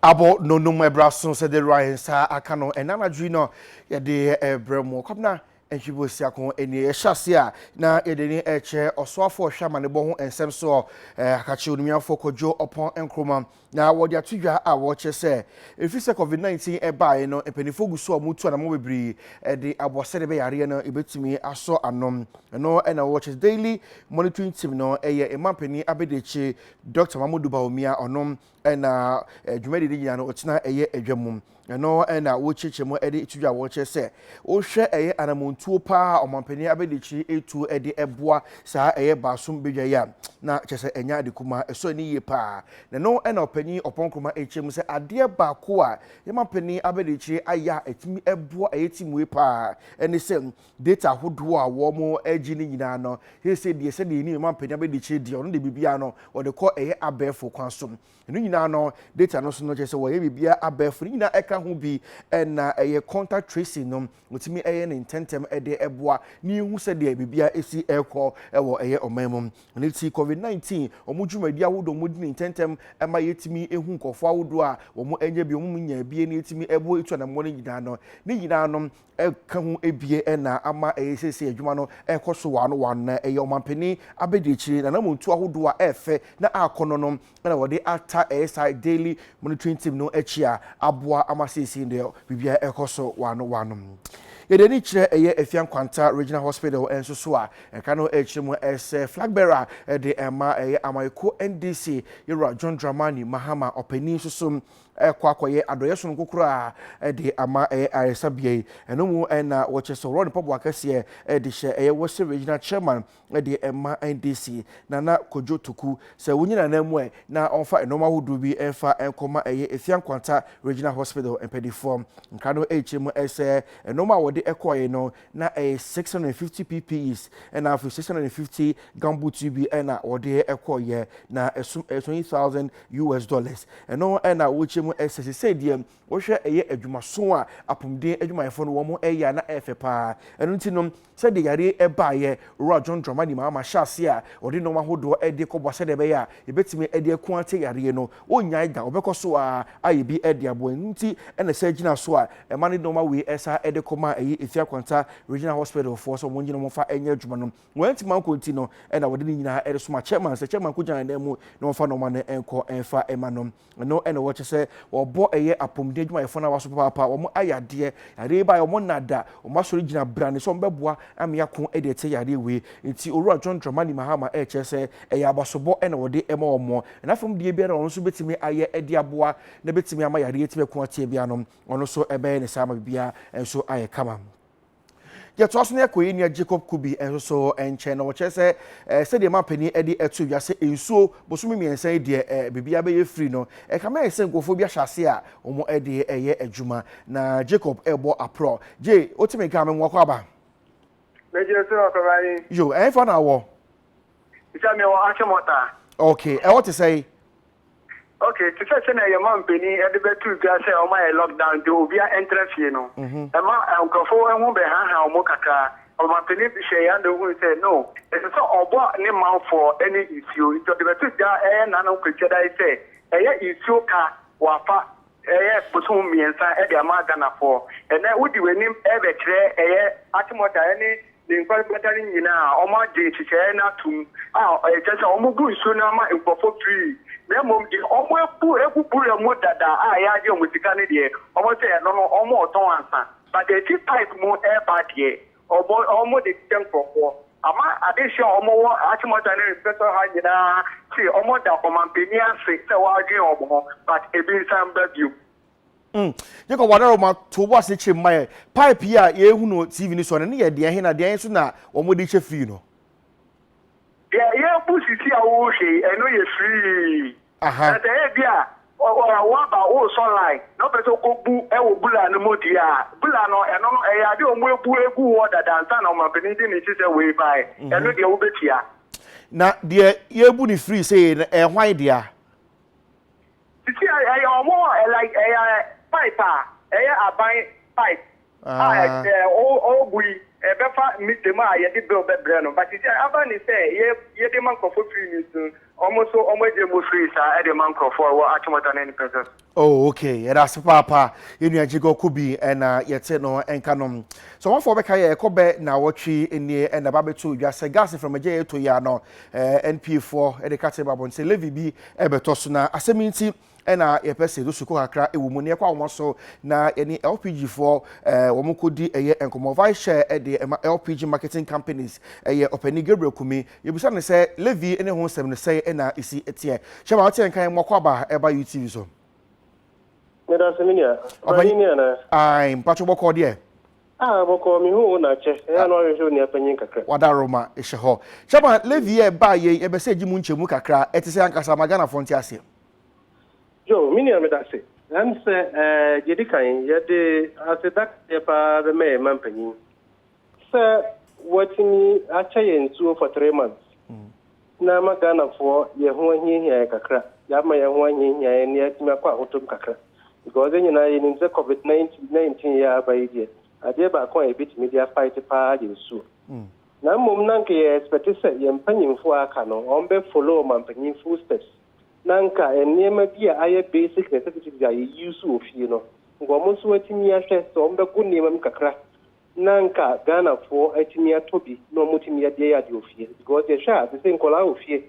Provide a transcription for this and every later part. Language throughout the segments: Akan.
abɔ nonum ɛbra so sɛ de rwa nsa aka no ɛna anadwo yi no yɛde ɛbrɛ mu ɔkwabena Mfebosia ko nie. Yɛhyɛ ase a, na yɛde ne ɛkyerɛ ɔsoafoɔ ɔhwɛ amanebɔ ho nsɛm soɔ, eh, Akakye Onumiafoɔ Kwadwo Ɔpɔn Nkrumah. Na wɔde ato dwa a wɔkyerɛ sɛ, ɛfiri sɛ COVID-19 ɛbaeɛ no, mpanimfoɔ gu so a wɔtu anamɔ bebree de abɔ sɛdeɛ ɛbɛyɛ adeɛ no ɛbɛtumi asɔ ano. Ɛno na Watches Daily Monitoring Team no ɛyɛ mmampanin abadiakyire Dɔkta Mamodu Bawumia, ɔno ɛna dwumadi no nyinaa no ɔtena ɛyɛ adwa mu ɛno ɛna wɔkyerɛkyerɛ mu ɛde to dwa wɔkyerɛ sɛ wohwɛ ɛyɛ anamontuo paa ɔmampanin abɛdikyiri etuo ɛde ɛboa saa ɛyɛ baasom badwa yi a na kyerɛ sɛ ɛnya ade kumaa ɛsɔ ani yie paa na ɛno ɛna ɔpanyin ɔpɔnkroma ɛkyerɛ mu sɛ adeɛ baako a yɛmampanin abɛdikyiri ayɛ a ɛtumi ɛboa ɛyɛ timue paa ɛne sɛ Data ahodoɔ a wɔregye no nyinaa no yɛ sɛ deɛ sɛdeɛ yɛnim ɛma mpanin abɛdi akyire deɛ ɔno deɛ biribiara no wɔde kɔ ɛyɛ abɛɛfo kwan so. Ɛno nyinaa no data no so no kyerɛ sɛ wɔyɛ biribiara abɛɛfo no nyinaa ɛka ho bi na ɛyɛ contact tracing no wɔtumi ɛyɛ ne ntɛntɛm ɛde ɛboa ne yɛhu sɛdeɛ biribiara ɛsi ɛrekɔ ɛwɔ ɛyɛ ɔman mu. Ɛno ti COVID-19 wɔn dwumadie ahodoɔ wɔn di ne ntɛntɛm ɛma yɛtumi ɛhu nkorɔfoɔ ahodoɔ a wɔn ɛnya bi wɔn nyaa bi ɛne ɛtumi ɛboa ɛtu anamɔ no nyinaa no ne nyinaa no ɛka ho abien na ama ɛyɛ seesei adwuma no rekɔ so one one na ɛyɛ ɔmanpanin abadiakyire nanamontuo ahodoɔ a ɛɛfɛ na akɔnnɔ no na wɔde ata ASI Daily Monitoring Team no akyi a aboa ama seesei deɛ biribiara rekɔ so one one. Yɛde ani kyerɛ ɛyɛ Afia Nkwanta Regional Hospital nso so a ɛka no akyire mu sɛ Flag Bearer de ɛma ɛyɛ Amayeko NDC Yɛwura John Dramani Mahama ɔpanin nso so rekɔ akɔyɛ adɔeɛ sononko koraa de ama ayaresabea yi. Ɛno mu na wɔkyerɛ sɛ wɔwɔ ne mpaboa kɛseɛ de hyɛ ɛyɛ Western Regional Chairman de ma NDC, Nana Kojo Tuku, sɛ wonyi Nana mu ɛ na ɔmfa nnoɔma ahodoɔ bi mfa nkɔma ɛyɛ Efia Nkwanta Regional Hospital mpanimfoɔ. Nkra no rekyerɛ mu sɛ nnoɔma a wɔde kɔeɛ no na ɛyɛ six hundred and fifty ppes ɛna afei six hundred and fifty gamboots yi bi ɛna wɔde ɛkɔɔyɛ na ɛsom ɛyɛ twenty thousand us dollars ɛno ɛna wɔkyɛ mu ɛsɛ sisɛ deɛ wɔhwɛ ɛyɛ adwumaso a apɔmuden adwumayɛfoɔ no wɔn ɛyɛ a na ɛfɛ paa ɛno nti no sɛdeɛ yareɛ ɛbaayɛ owura John Dramani Mahama hyɛ aseɛ a wɔde nneɛma ahodoɔ ɛde kɔboa sɛdeɛ ɛbɛyɛ a yɛbɛtumi ɛde ɛko akyɛ yareɛ no Ɔrennyae da, ɔbɛkɔ so ara ayɛ bi de aboa. Ɛno nti na saa gyina so a ɛma ne nnoɔma wei ɛsan de kɔmaa ɛyi Efia Kwanta Regional Hospital foɔ sɛ wɔn gye no wɔn fa nyɛ adwuma no wɔantumi ankɔ nti no na wɔde ne nyinaa ɛresoma Chairman sɛ Chairman nkɔgya ne nan mu na wɔmfa nnoɔma no nkɔ mfa ma no. Ɛno na ɛwɔ kyɛ sɛ wɔbɔ ɛyɛ apɔmuden adwumayɛfoɔ no awa so papaapa, wɔn ayɛ adeɛ, yareɛ yi baeɛ wɔn nna da, wɔn asɔre gyina brane sɛ wɔbɛboa ama yɛako de atia yareɛ wei. Nti Owura John Dramani Mahama ɛrekyerɛ sɛ ɛyɛ abasobɔ na wɔde ma wɔn. Na fam deɛ biara a ɔno nso bɛtumi ayɛ de aboa na ɛbɛtumi ama yareɛ atumi ako atia biara no, ɔno nso ɛbɛyɛ ne saa ma biribiara nso ayɛ kama. Yɛtoa so na yɛkɔ yɛn nua Jacob Kubi nso so nkyɛn, na ɔkyerɛ sɛ sɛdeɛ mampanin de ato dwa sɛ nsuo bosome mmiɛnsa yi deɛ biribiara bɛyɛ firi no, ɛkame ayɛ sɛ nkurɔfoɔ bi ahyɛ aseɛ a wɔde reyɛ adwuma, na Jacob rebɔ aporɔ. Jay, wote me nka a, me mmoa kɔ aba? Megyina so, Ɔkɔba Ayin. Yo, ɛhefa na wɔ? Sɛ mewɔ Achimota. Ok, ɛhɔ te sɛn? Ok, te sɛ sɛnea yɛn manpanin de bɛto dwa sɛ wɔayɛ lockdown nti obiara ntra fie no, mhm. ɛma nkurɔfo ho bɛhaha wɔn kakra. Ɔmanpanin bi hwɛɛ ano hui sɛ no, ɛsɛ sɛ ɔbɔ ne manfoɔ ne nsuo, nti ɔde bɛto dwa ɛyɛ nnanom Kwasiada yi sɛ ɛyɛ nsuo ka wɔafa ɛyɛ bosom mmiɛnsa de ama Ghanafoɔ. Ɛnnɛ wode w'anim rebɛkyerɛ ɛyɛ Atemɔta ne ne nkwarebata no nyinaa a wɔagye nhyehyɛeɛ no atom a ɛkyerɛ sɛ wɔbu nsuo no ama nkurɔfoɔ free na mmom deɛ wɔabu agu bura mu dada a yɛagye wɔn sika no deɛ wɔse ɛno no wɔretɔn ansa but ɛfiri pipe mu reba deɛ ɔbɔ ɔmo de hyehyɛ nkorɔfoɔ ama adehyeɛ a ɔmo wɔ Achimota ne Reflector ha nyinaa se ɔmo da ɔmanpanin ase sɛ wadwen ɔmo ho but ebi nsa mba biom. Mm Jacob Wadaroma to wo asekyerem ma yɛn. Pipe yi a yɛrehu no wɔ TV no so no, ɛno yɛ deɛn he na deɛn nso na wɔn de hyɛ firii no? Deɛ yɛrebu sisi a wohwɛ yi, ɛno yɛ firii. Na sɛ ebia woaba woresɔ line na wopɛ sɛ wokɔbu wɔ bula no mu deɛ a, bula no, ɛno no, ɛyɛ adeɛ a wɔabu agu hɔ dada ansa na ɔmampanin de ne sisɛ wei baeɛ. Ɛno deɛ, wobɛtua. Na deɛ yɛrebu no firi sei no, ɛyɛ hwan dea? Seesei ɛyɛ wɔn, like ɛyɛ pipe a ɛyɛ aban pipe. a ɔrebu yi ɛbɛfa mita mu a yɛde bill bɛbrɛ no but sɛ aba ne sɛ yɛde ma nkurɔfoɔ free no nti no wɔn nso wɔagye mu free saa ɛde ma nkurɔfoɔ a ɛwɔ Akyemɔta ne ne pɛsɛ so. Oh ok yɛda ase paapa yɛn nua Gyegɔ Kobi na yɛte no nka no sɛ ɔmanfoɔ bɛka yɛ ɛkɔ bɛ naawɔtwe nie na ɛba bɛto dwa sɛ gas mframagya yɛ ɛtɔ yi a no ɛɛ NPA foɔ ɛde ka te ba abɔnten sɛ levy bi ɛbɛtɔ so na asɛm yi nti na yɛpɛ sɛ yɛsukɔ kakra wɔ mu na yɛkɔ ahoma so na yɛne lpg foɔ eh, wɔn kɔdi ɛyɛ eh, nkɔmmɔ vice chair eh, de ɛma eh, lpg marketing companies ɛyɛ eh, ɔpɛni gabriel kumi yɛbisa no sɛ levy ne ho nsɛm no sɛe na ɛsi teɛ hyɛ ma woteɛ nkan mmɔkɔ aba ɛba eh, utv so meda sɛ me nua ɔpɛni ni anaa mpakyɛ bɔkɔɔ deɛ Ah, bɔkɔɔ, me hu wo na akyɛ, ɛyɛ a na w'ahwehwɛ onua panyin kakra. W'adaroma hyɛ hɔ. Chama, Levi yɛ ba a yɛn, yɛbɛsɛ gye mu nkyɛmu kakra, ɛte sɛ ankasa ama Ghanafoɔ nte aseɛ. Joe, me nua, meda ase. Ɛne sɛ, eh, deɛ ɛdi kan, yɛde aseda kɛseɛ pa ara bɛma yɛn man panyin sɛ watumi akyɛ yɛn nsuo for three months. na ama Ghanafoɔ yɛn ho ahiahia yɛn kakra, yɛama yɛn ho ahiahia yɛn na yɛatumi akɔ ahotomu kakra because yɛn nyinaa yɛnim sɛ covid nineteen yi a aba yi deɛ, adeɛ baako a yɛbɛtumi de afight paa yɛ nsuo. Mm. Na mmom na anka yɛ expect sɛ yɛn mpanyinfoɔ a aka no wɔn bɛ follow wɔn mpanyin full steps na anka nneɛma bi a ayɛ basic necessities a yɛ use wɔ fie no nka wɔn nso atumi ahwɛ sɛ wɔn bɛgo nneɛma mu kakra na nka Ghanafoɔ atumi atɔ bi na wɔn atumi adi ayɛ adeɛ wɔ fie because yɛ hwɛ a te sɛ nkwadaa wɔ fie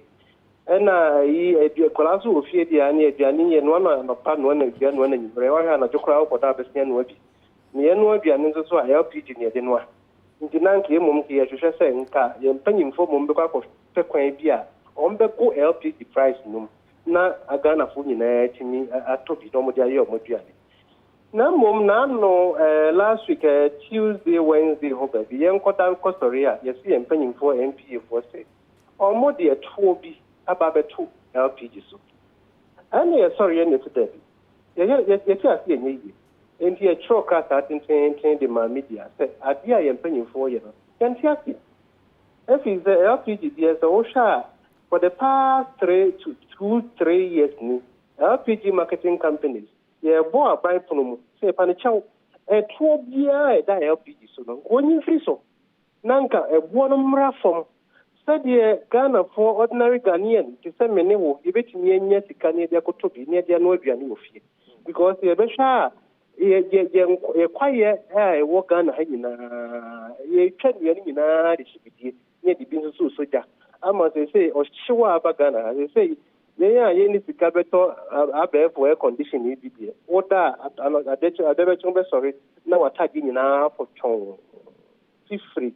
ɛna ayi adua nkwadaa nso wɔ fie deɛ ne aduane yɛ noa na anɔpa noa na awia noa na anwummerɛ wɔhwɛ anadwo koraa wokɔ da abɛsia noa bi na yɛn noa aduane nso so a LPG ne yɛde noa nti na nka mmom nka yɛhwehwɛ sɛ nka yɛn mpanyinfoɔ mmom bɛkɔ akɔhwɛ kwan bi a wɔn bɛgo LPG price nom na Ghanafoɔ nyinaa atumi atɔ bi na wɔn de ayɛ wɔn aduane. Na mmom n'ano eh last week eh Tuesday Wednesday hɔ baabi yɛnkɔ da nkɔ sɔre a yɛse yɛn mpanyinfoɔ NPA foɔ se ɔmo de ɛtoɔ bi aba abɛto LPG so ɛna yɛsɔreɛ na yɛse daabi yɛyɛ yɛ yɛte ase ɛnyɛ yie enti yɛtwerɛɛ krataa tenteenten de maa media sɛ adeɛ a yɛn mpanyinfoɔ yɛ no yɛnte aseɛ ɛfiri sɛ LPG deɛ sɛ wohwɛ a for the past three to two three years ni LPG marketing companies Yɛbɔ aban pono mu sɛ yɛpa no kyɛw. Ɛtoɔ biara a ɛda LPG so no, nka ɔnyi mfiri so, na nka ɛboɔ no mmra fam. Sɛdeɛ Ghanafoɔ, ordinary Ghanaian, te sɛ me ne wo, yɛbɛtumi anya sika na yɛde akɔtɔ bi na yɛde anoa aduane wɔ fie. Because yɛbɛhwɛ a, yɛ, yɛ, yɛn, yɛn kwaeɛ a ɛwɔ Ghana ha nyinaa, yɛtwa nnua no nyinaa de hye bidie. ne de bi nso so resɔ gya ama seesei ɔhyew a aba Ghana ha. Seesei yɛn a yɛnni sika bɛtɔ abɛɛfo air condition yi bi deɛ, wo da a ano adekye adabɛkye wobɛsɔre na w'atadeɛ nyinaa afɔ twɔnn. Fifire.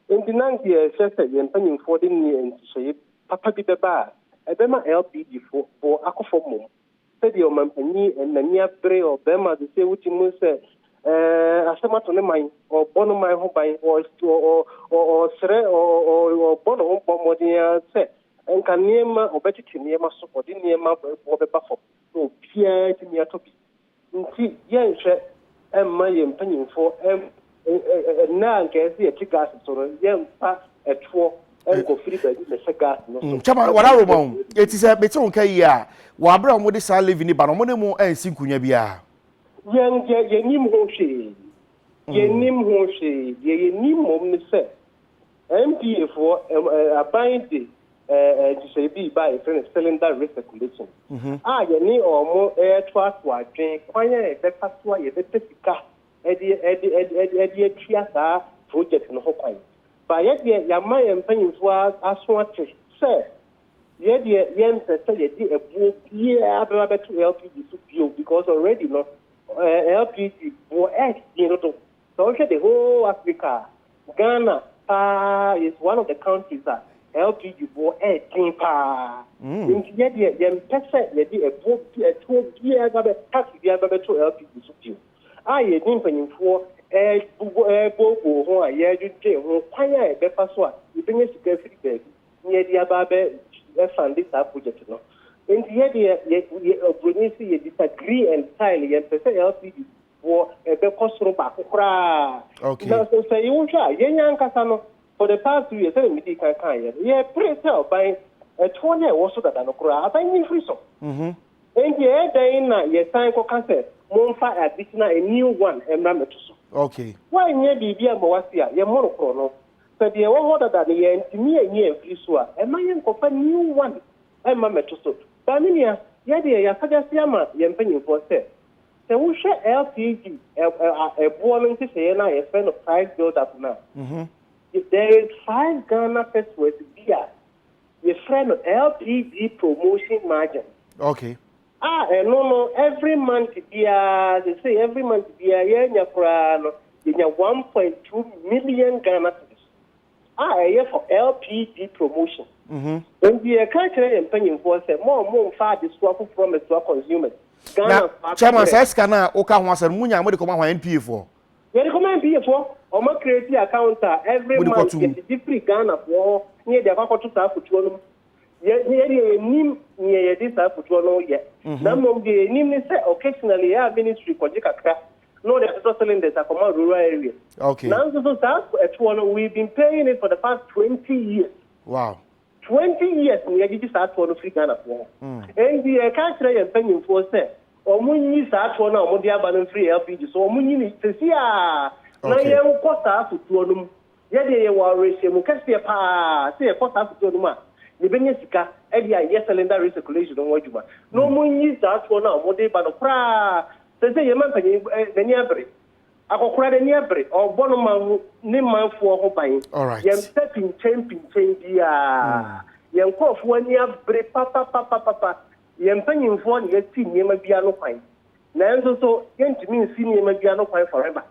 Enti na deɛ ɛsɛ sɛ yɛn mpanimfoɔ de nhyehyɛeɛ papa bi bɛba a ɛbɛma LPG foɔ bo akɔ fam mmom. Sɛdeɛ ɔmanpanin Nania bere ɔbarima de sɛ wogye mu sɛ asɛm ato ne man, ɔrebɔ no man ho ban, ɔresrɛ, ɔrebɔ ne ho bɔ mmɔden ara sɛ nka nneɛma, ɔbɛtete nneɛma so, ɔde nneɛma boɔ bɛba fam na obiara atumi atɔ bi nti, yɛnhwɛ mma yɛn mpanimfoɔ Nnɛ a anka ɛsɛ sɛ yɛte gas so no, yɛmfa ɛtoɔ nkɔfiri baabi mmɛhyɛ gas no so. Kyɛma, wɔn aroma o. Eti sɛ mete wo nka yie a, wɔ abere a wɔde saa levy no ba no, wɔn ne mo ansi nkunya biara? Yɛn deɛ, yɛnim ho hwee. Yɛnim ho hwee. Deɛ yɛnim mmom ne sɛ, NPA foɔ, aban de nhyehyɛe bi ba a yɛfrɛ no cylinder recirculation, a yɛne wɔn retoatoa adwene kwan a yɛbɛfa so a yɛbɛpɛ sika de atua saa projɛt no ho kwan. Ba yɛ deɛ yɛama yɛn mpanyimfoɔ aso ate sɛ yɛ deɛ yɛmpɛ sɛ yɛde ɛboɔ biara bɛba bɛto LPG so bio because already no LPG boɔ ɛɛhye dodo. Sɛ wohwɛ the whole Africa a, Ghana paa is one of the countries a LPG boɔ ɛɛden paa. Nti yɛ deɛ yɛmpɛ sɛ yɛde ɛboɔ bi ɛtoɔ biara bɛba bɛ tax biara bɛba bɛto LPG so bio. a yɛne mpanimfoɔ rebooboo ho a yɛredwendwen ho kwan a yɛbɛfa so a yɛbɛnya sika afiri baabi na yɛde aba abɛfande saa project no. Nti yɛ deɛ yɛ Broni se yɛ disagree entirely, yɛmpɛ sɛ LCD boɔ bɛkɔ soro baako koraa. Nanso sɛ wohwɛ a yɛn ankasa no for the past two years sɛdeɛ medii kan kaeɛ no yɛpere sɛ ɔban toɔ no a ɛwɔ so dada no koraa aban no mfiri so. Enti ɛyɛ dɛn na yɛsan kɔka sɛ, Momfa adetena, a new one, mmra me to so? Okay. Woanyɛ biribi amma woasi a, yɛ mmoro koro no. Sɛ deɛ ɛwɔ hɔ dada no yɛantumi anyi amfiri so a, ɛmma yɛnkɔfa new one mma mmɛto so. Ba me nua, yɛ deɛ yɛasagyase ama yɛn mpanimfoɔ sɛ, sɛ wohwɛ LPG ɛboɔ no nhyehyɛeɛ no a yɛfrɛ no price build up no a, there is five Ghana pesewas bi a, yɛfrɛ no LPG promotion margin. Okay. A ɛno no every month biara sese every month biara yɛanya koraa no yɛnya 1.2 million Ghana cedis a ɛyɛ for LPG promotion. Mhm. Nti yɛka kyerɛ yɛn mpanyinfoɔ sɛ mo mo mfa adesoa foforɔ mɛsoa consumers. Ghana fo akobrɛ. Chairman saa sika no a woka ho asɛm no munya a mode kɔma hwan NPA foɔ? Yɛde kɔ ma NPA foɔ, wɔn create account a every month yɛde gye firi Ghana foɔ hɔ ne yɛde akɔ akɔto saa afotuo no mu. Yɛ yɛ deɛ yɛnim nea yɛde saa afotuo no yɛ. Na mmom deɛ yɛnim ne sɛ occasionally yɛ a ministry kɔgye kakra na wɔde atotɔ cylinders akɔma rural areas. Okay. Nanso so saa ɛtoɔ no we been paying it for the past 20 years. Wow. Twenty years na yɛagyegye saa toɔ no firi Ghanafoɔ hɔ. Ɛnti yɛreka akyerɛ yɛn mpanyinfoɔ sɛ wɔnyi saa toɔ no a wɔde aba no mfiri LPG so, wɔnyi no seesei ara na yɛnkɔ saa asutoɔ no mu. Yɛdeɛ yɛwɔ awerɛhyɛmu kɛseɛ pa ara sɛ yɛkɔ saa asutoɔ no mu a, yɛbɛnya sika de ayɛ cylinder recirculation no ho adwuma. Na wɔnyi saa toɔ no a wɔde ba no koraa, seesei yɛn mampanin ani abere. Akɔkora n'ani abere, ɔrebɔ no man ho ne manfoɔ ho ban. Yɛn pɛ pinkyɛn pinkyɛn biara. Yɛn nkurɔfoɔ ani abere papapapapapa. Yɛn mpanimfoɔ na yɛasi nneɛma bi ano kwan. Nanso so yɛntumi nsi nneɛma bi ano kwan forever?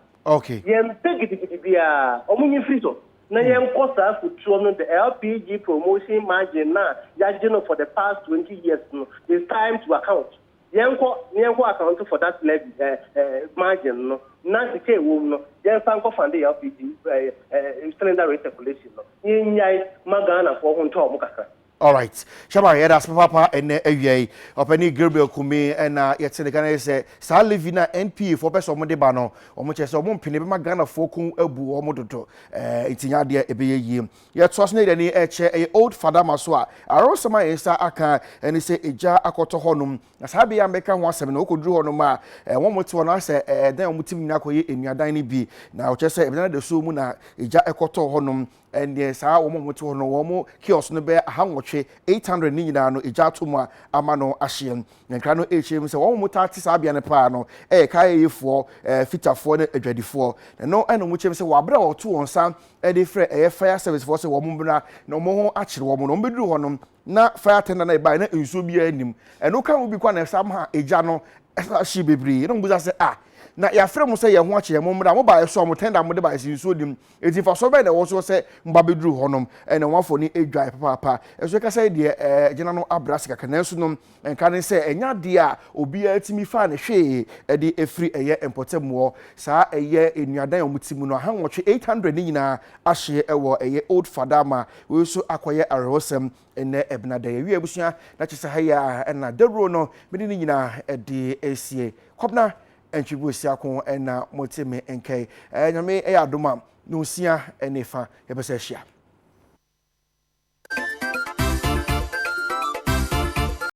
Yɛn pɛ gidigidi biara, wɔn nyi firi so, na yɛnkɔ saa afutuo no, the LPG promotion margin no a yɛagye no for the past 20 years no, it's time to account. Yɛnkɔ na yɛnkɔ account for that levy, eh, eh, margin no, na sika a ɛwɔ mu no, yɛmfa nkɔ funde LPG, eh, eh, cylinder recirculation no. Yɛnnyae ma Ghanafoɔ ho ntɔ wɔn kakra. Alright. Chairman, yɛda ase papaapa ɛnnɛ awia yi. Ɔpanin Gabriel Kumi ɛna yɛte ne nka na yɛ sɛ saa levy no a NPA foɔ pɛ sɛ wɔn de ba no, wɔn kyerɛ sɛ wɔn mpene bɛma Ghanafoɔ kɔn abu wɔn dodo. Ɛɛ nti nyɛ adeɛ ɛbɛyɛ yie. Yɛtoa so na yɛde ani rekyerɛ ɛyɛ Old Fadama so a, awerɛhosɛm a yɛn nsa aka ne sɛ egya akɔtɔ hɔnom. Na saa bea a mɛka ho asɛm no, wokɔduru hɔnom a, wɔn a wɔte hɔ no ayɛ sɛ ɛdan a wɔte mu nyinaa akɔyɛ nnuadan no bi. Na wɔkyerɛ sɛ ɛdan adasoɔ mu na egya kɔtɔɔ hɔnom. Ɛnneɛ saa wɔn a wɔte hɔ no, wɔn kiosk no bɛyɛ aha nwɔtwe, 800, ne nyinaa no, egya ato mu a ama no ahyeɛ. Na nkra no rekyerɛ mu sɛ wɔn a wɔtaa te saa bea no paa no yɛ kaayɛyɛfoɔ, fitafoɔ, ne adwadifoɔ. Na ɛno na wɔkyerɛ mu sɛ wɔ aberɛ a wɔto wɔn nsa de frɛɛ ɛyɛ fire service foɔ sɛ wɔn mmra na wɔn ho akyere wɔn na wɔn bɛduru hɔ no na fire attendant na ɛbaeɛ na nsuo biara nnim ɛno ka ho bi kɔ na ɛsa ma egya no ɛsa hye bebree na wɔn bisa sɛ ah na yɛafrɛ mo sɛ yɛn ho akyere yɛn mo mmra mo baeɛ so a mo tender mo de baeɛ sɛ nsuo nim eti mfasoɔ bɛn na ɛwɔ so sɛ mo ba bɛduru hɔ nom ɛna wɔn afɔ ne adwae papaapa ɛso ɛka sɛ deɛ ɛɛ gyina no abrɛ ase kakra nanso nom Nka ne sɛ ɛnyɛ adeɛ a obiara tumi faa ne hwee de firi ɛyɛ mpɔtam hɔ. Saa ɛyɛ nnuadan a wɔte mu no aha nwɔtwe, 800, no nyinaa ahyeɛ wɔ ɛyɛ Old Fadama. Wei nso akɔyɛ awerɛhosɛm nnɛ ɛbenada yi. Awiee abusua, na kyerɛ sɛ ha yi ara na dawuro no mede ne nyinaa de resie. Kɔbena Antwi Boasiako na mote me nka yi. Nyame yɛ adom a, Nonsia ne fa yɛbɛsan ahyia.